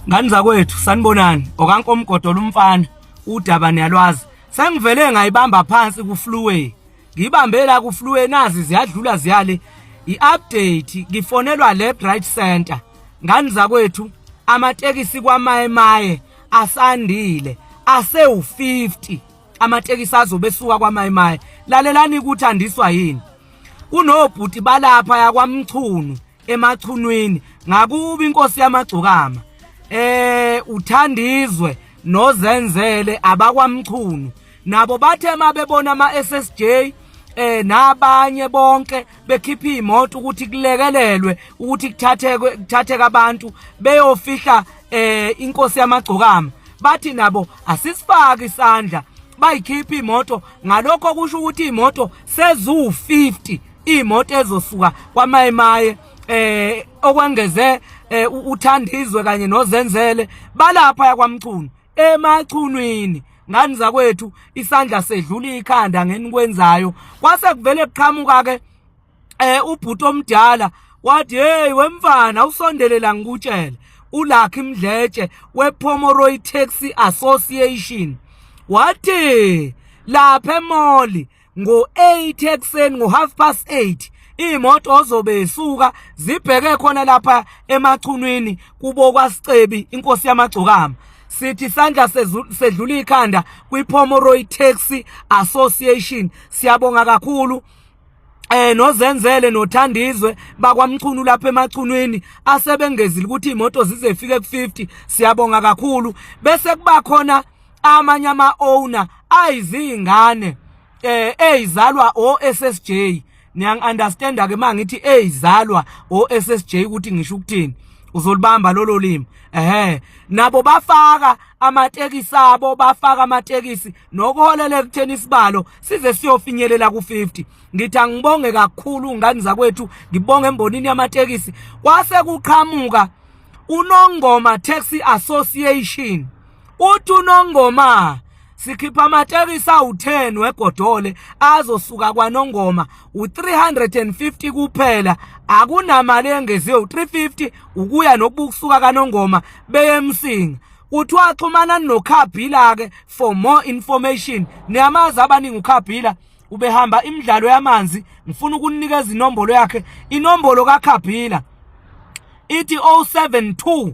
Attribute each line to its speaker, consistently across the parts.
Speaker 1: Ngani zakwethu sanibonani okankomgodola umfana udaba niyalwazi sengivele ngayibamba phansi ku fluway ngibambe la ku fluway nazi ziyadlula ziyale i-update ngifonelwa left right center ngani zakwethu amatekisi kwamaye maye asandile asewu-50 amatekisi azobe esuka kwamaye maye lalelani ukuthi andiswa yini kunobhuti balapha yakwamchunu emachunwini ngakuba inkosi yamagcokama eh uthandizwe nozenzele abakwamchunu nabo bathe mabebona ama SSJ eh nabanye bonke bekhipha imoto ukuthi kulekelelwe ukuthi kuthatheke kuthatheka abantu beyofihla eh inkosi yamagcokama bathi nabo asisifaki isandla bayikhipha imoto ngalokho kusho ukuthi imoto sezu 50 imoto ezosuka kwamayimaye eh okwengeze eh, uthandizwe kanye nozenzele balapha yakwamchunu emachunwini ngani zakwethu isandla sedlula ikhanda ngenikwenzayo kwase kuvele kuqhamuka ke eh ubhuti omdala wathi hey wemfana usondelela ngikutshele ulakhi mdletshe wePomoroy Taxi Association wathi lapha emoli ngo-8 ekuseni ngo-half past 8 iy'moto ozobe isuka zibheke khona lapha emachunwini kubo kwasicebi inkosi yamagcokama sithi isandla sedlula ikhanda kwi-pomoroy taxi association siyabonga kakhulu eh nozenzele nothandizwe bakwamchunu lapha emachunwini asebengezile ukuthi imoto zizefike ku50 siyabonga kakhulu bese kuba khona amanye ama owner ayizingane eh ezalwa o SSJ niyang understand ke mangithi ezalwa o SSJ ukuthi ngisho ukuthini uzolibamba lolo limi ehe nabo bafaka amatekisi abo bafaka amatekisi nokuholela ekutheni isibalo size siyofinyelela ku50 ngithi angibonge kakhulu ngani zakwethu ngibonge embonini yamatekisi kwase kuqhamuka unongoma taxi association uthi unongoma sikhipha amatekisi awu-10 wegodole azosuka kwanongoma u-350 kuphela akunamali engeziwe u-350 ukuya nokubukusuka kanongoma beyemsinga kuthiwa axhumana nokhabhila-ke for more information niyamazi abaningi ukhabhila ubehamba imidlalo yamanzi ngifuna ukunikeza inombolo yakhe inombolo kakhabhila ithi 072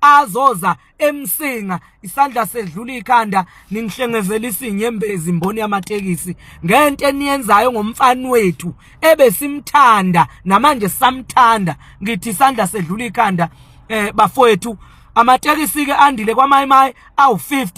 Speaker 1: azoza emsinga isandla sedlula ikhanda ningihlengezela isinyembezi imboni yamatekisi ngento eniyenzayo ngomfana wethu ebesimthanda namanje samthanda ngithi isandla sedlula ikhanda eh bafowethu amatekisi ke andile kwamayimayi awu50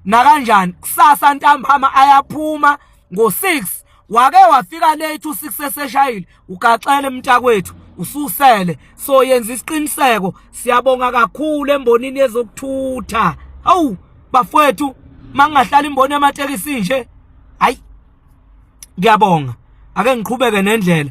Speaker 1: nakanjani kusasa ntambama ayaphuma ngo6 wake wafika late u6 eseshayile ugaxele mntakwethu ususele so yenza isiqiniseko siyabonga kakhulu embonini yezokuthutha awu bafowethu mangingahlala imboni yamatekisi nje hayi ngiyabonga ake ngiqhubeke nendlela